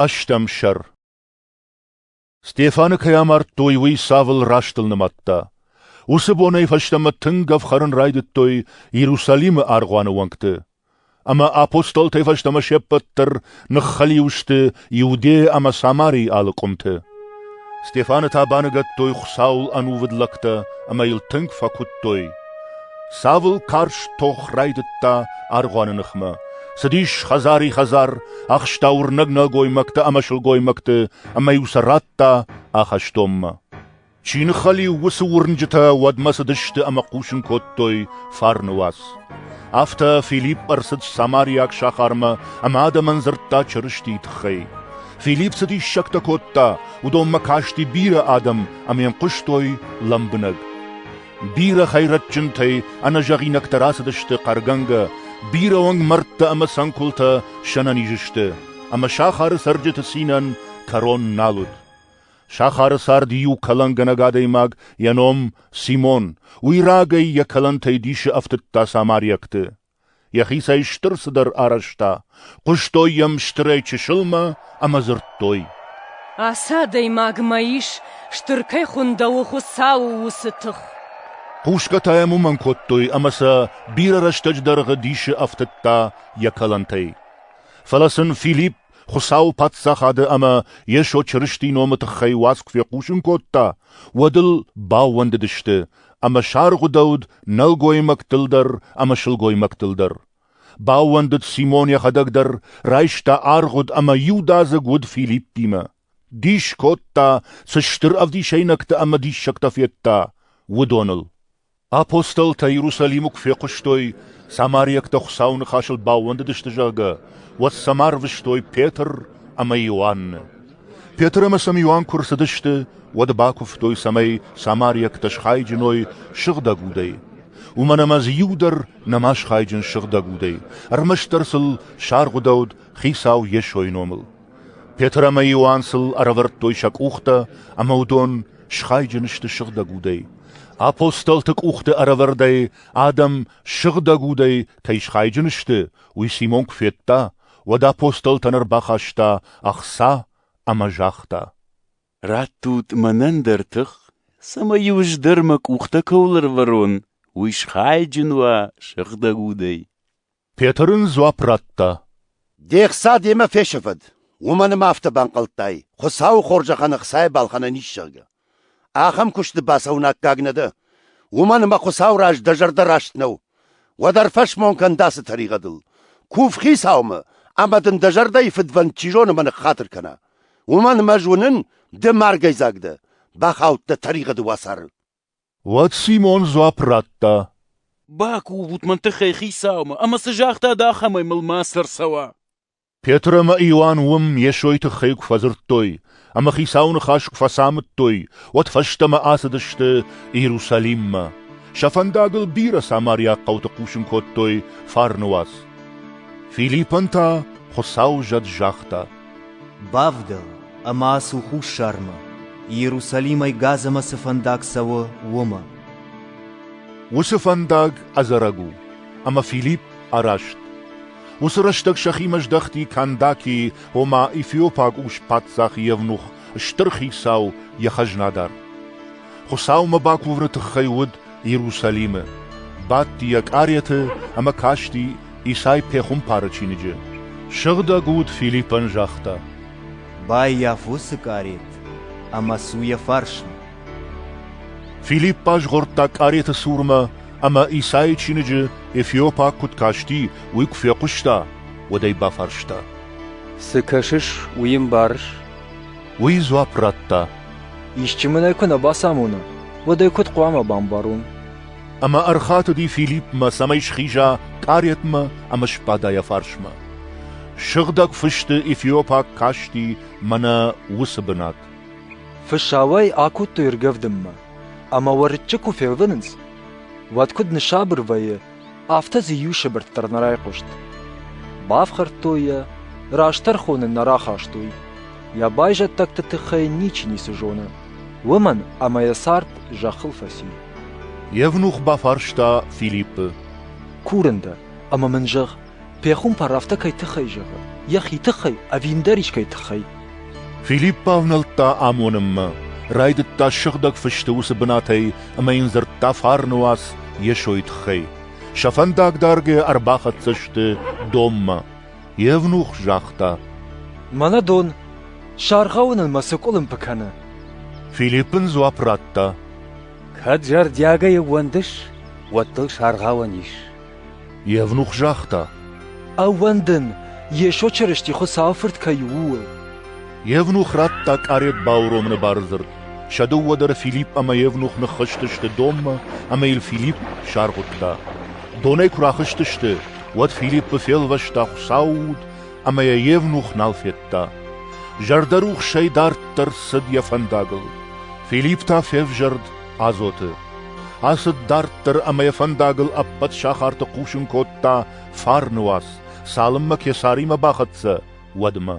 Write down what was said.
Ӕстӕм сӕр Стефаны кӕй амардтой, уый цавыл растыл нымадта? Уыцы бонӕй фӕстӕмӕ тынг ӕфхӕрын райдыдтой Иерусалимы аргъуаны уӕнгты. Ӕмӕ апостолтӕй фӕстӕмӕ се ппӕт дӕр ныххӕлиу сты Иудӕйы ӕмӕ Самарийы алы къуымты. Стефаны та баныгӕдтой Хуыцауыл ӕнувыд лӕгтӕ ӕмӕ йыл тынг фӕкуыдтой. Савл карз тох райдыдта аргъуаны ныхмӕ. Цыдис хӕдзари-хӕдзар, ахста уырнӕг нӕлгоймӕгты ӕмӕ сылгоймӕгты ӕмӕ-иу сӕ радта ахӕстонмӕ. Чи ныххӕлиу, уыцы уырнджытӕ уӕдмӕ цыдысты ӕмӕ хъусын кодтой фарны уац. Афтӕ Филипп ӕрцыд самариаг сахармӕ ӕмӕ адӕмӕн дзырдта Чырыстийы тыххӕй. Филипп цы диссӕгтӕ кодта, уыдонмӕ касти бирӕ адӕм ӕмӕ йӕм хъуыстой лӕмбынӕг. Бирӕ хӕйрӕджджынтӕй ӕнӕзӕгъинӕгтӕ рацыдысты хъӕргӕнгӕ, бирӕ онг мӕрдтӕ ӕмӕ цӕнкуылтӕ сӕнӕниз сты, ӕмӕ сахары цӕрджыты цинӕн кӕрон нал уыд. Сахары цард иу кӕлӕнгӕнӕг адӕймаг йӕ ном Симон, уый рагӕй йӕ кӕлӕнтӕй дисы ӕфтыдта самариӕгты. Йӕхицӕй стыр цыдӕр арӕзта, хъуыстой йӕм стырӕй чысылмӕ ӕмӕ дзырдтой. Ацы адӕймагмӕ ис, стыр кӕй хуындӕуы Хуыцауы уыцы тых. Хъусгӕ та йӕм уымӕн кодтой, ӕмӕ сӕ бирӕ рӕстӕджы дӕргъы дисы ӕфтыдта йӕ кӕлӕнтӕй. Фӕлӕ сын Филипп Хуыцауы паддзахады ӕмӕ Йесо Чырысти номы тыххӕй уацьг фехъусын кодта, уӕд ыл баууӕндыдысты ӕмӕ саргъуыдӕуыд нӕлгоймӕгтыл дӕр ӕмӕ сылгоймӕгтыл дӕр. Баууӕндыд Симон йӕхӕдӕг дӕр, райста аргъуыд ӕмӕ иудадзыг уыд Филиппимӕ. Дис кодта, цы стыр ӕвдисӕйнӕгтӕ ӕмӕ диссӕгтӕ федта, уыдоныл. Апостолтӕ Иерусалимы куы фехъуыстой, самариӕгтӕ Хуыцауы ныхасыл баууӕндыдысты, зӕгъгӕ, уӕд сӕм арвыстой Петр ӕмӕ Иоанны. Петр ӕмӕ сӕм иуан куы рцыдысты, уӕд бакуывтой, цӕмӕй самариӕгтӕ схайджыной сыгъдӕг удӕй. Уымӕн ӕмӕ дзы иу дӕр нӕма схайджын сыгъдӕг удӕй, ӕрмӕстдӕр сыл саргъуыдӕуыд Хицау Йесойы номыл. Петр ӕмӕ Иоанн сыл ӕрӕвӕрдтой сӕ къухтӕ, ӕмӕ уыдон схайджын сты сыгъдӕг удӕй. Апостолты къухты ӕрӕвӕрдӕй адӕм сыгъдӕг удӕй кӕй схайджын сты, уый Симон куы федта, уӕд апостолтӕн ӕрбахаста ӕхца ӕмӕ загъта: «Раттут мӕнӕн дӕр тых, цӕмӕй-иу ӕз дӕр мӕ къухтӕ кӕуыл ӕрвӕрон, уый схайджын уа сыгъдӕг удӕй». Петр ын дзуапп радта: «Де хца демӕ фесӕфӕд, уымӕн ӕмӕ афтӕ банхъӕлдтай, Хуыцауы хорзӕхӕн ӕхцайы балхӕнӕн ис, зӕгъгӕ. Ахӕм куысты бацӕуынаккаг нӕ дӕ, уымӕн ӕмӕ Хуыцауы раз дӕ зӕрдӕ раст нӕу. уӕдӕр фӕсмон кӕн дӕ ацы тӕригъӕдыл, кув хицаумӕ ӕмӕ дын дӕ зӕрдӕйы фыдвӕнд чи зоны ӕмӕ ныххатыр кӕна. уымӕн ӕмӕ зонын, ды маргӕйдзаг дӕ, бахауд дӕ тӕригъӕды уацары. Уӕд Симон дзуапп радта. — Бакувут мын тыххӕй хицаумӕ, ӕмӕ цы загътад, ахӕмӕй мыл ма цы ӕрцӕуа. Петр ӕмӕ Иоанн уым Йесойы тыххӕй куы фӕдзырдтой ӕмӕ Хицауы ныхас куы фӕцамыдтой, уӕд фӕстӕмӕ ацыдысты Иерусалиммӕ. Сӕ фӕндагыл бирӕ самариаг хъӕуты хъусын кодтой фарны уац. Филиппӕн та Хуыцау зӕд загъта: «Бавдӕл ӕмӕ ацу хуссармӕ, Иерусалимӕй Газӕмӕ цы фӕндаг цӕуы, уымӕ». Уыцы фӕндаг ӕдзӕрӕг у, ӕмӕ Филипп араст. Уыцы рӕстӕг сӕхимӕ здӕхти Кандаки, ома эфиопаг ус паддзах Евнух, стыр хицау, йӕ хӕзнадар. Хуыцаумӕ бакувыны тыххӕй уыд Иерусалимы. Бадти йӕ къареты ӕмӕ касти Исай пехуымпары чиныджы. Сыгъдӕг уд Филиппӕн загъта: Баййаф уыцы къарет ӕмӕ цу йӕ фарсмӕ. Филипп азгъордта къареты цурмӕ ӕмӕ Исайы чиныджы Эфиопаг куыд касти, уый куы фехъуыста, уӕд ӕй бафарста. Цы кӕсыс, уый ӕмбарыс? Уый дзуапп радта. Исчи мын ӕй куы нӕ бацамона, уӕд ӕй куыд хъуамӕ бамбарон? Ӕмӕ ӕрхатыди Филиппмӕ, цӕмӕй схиза Къаретмӕ ӕмӕ сбада йӕ фарсмӕ. Сыгъдӕг фысты эфиопаг касти мӕнӕ уыцы бынат. Фысауӕй акодтой ӕргӕвдынмӕ. Ӕмӕ уӕрыччы куы февдынынц, уӕд куыд ныссабыр вӕййы, афтӕ дзы иу сыбыртт дӕр нӕ райхъуыст. Бафхӕрдтой йӕ, раст тӕрхоны нӕ рахастой. Йӕ байзӕддӕгты тыххӕй ничи ницы зоны, уымӕн ӕмӕ йӕ цард зӕххыл фӕци. Евнух бафарста Филиппы. Курын дӕ, ӕмӕ мын зӕгъ, Пехуымпар афтӕ кӕй тыххӕй зӕгъы, йӕхи тыххӕй ӕви ӕндӕр искӕй тыххӕй? Филипп бавнӕлдта амонынмӕ, райдыдта Сыгъдӕг Фысты уыцы бынатӕй ӕмӕ йын дзырдта фарны уац Йесойы тыххӕй. Сӕ фӕндаг даргӕ ӕрбахӕццӕ сты донмӕ. Йе внух загъта: «Мӕнӕ дон! Саргъауыныл мӕ цы къуылымпы кӕны?» Филипп ын дзуапп радта: «Кӕд зӕрдиагӕй ӕууӕндыс, уӕд дыл саргъауӕн ис. Евнух загъта, Ӕууӕндын, Йесо Чырысти Хуыцауы Фырт кӕй у, ууыл. Евнух радта къарет бауромыны бардзырд. Сӕ дыууӕ дӕр Филипп ӕмӕ Евнух ныххызтысты донмӕ, ӕмӕ йыл Филипп саргъуыдта. Донӕй куы рахызтысты, уӕд Филиппы фелвӕста Хуыцауы уд, ӕмӕ йӕ Евнух нал федта. Зӕрдӕрухсӕй дарддӕр цыд йӕ фӕндагыл. Филипп та февзӕрд Азоты. Ацыд дарддӕр ӕмӕ йӕ фӕндагыл ӕппӕт сахарты хъусын кодта фарны уац, цалынмӕ кесаримӕ бахӕццӕ, уӕдмӕ.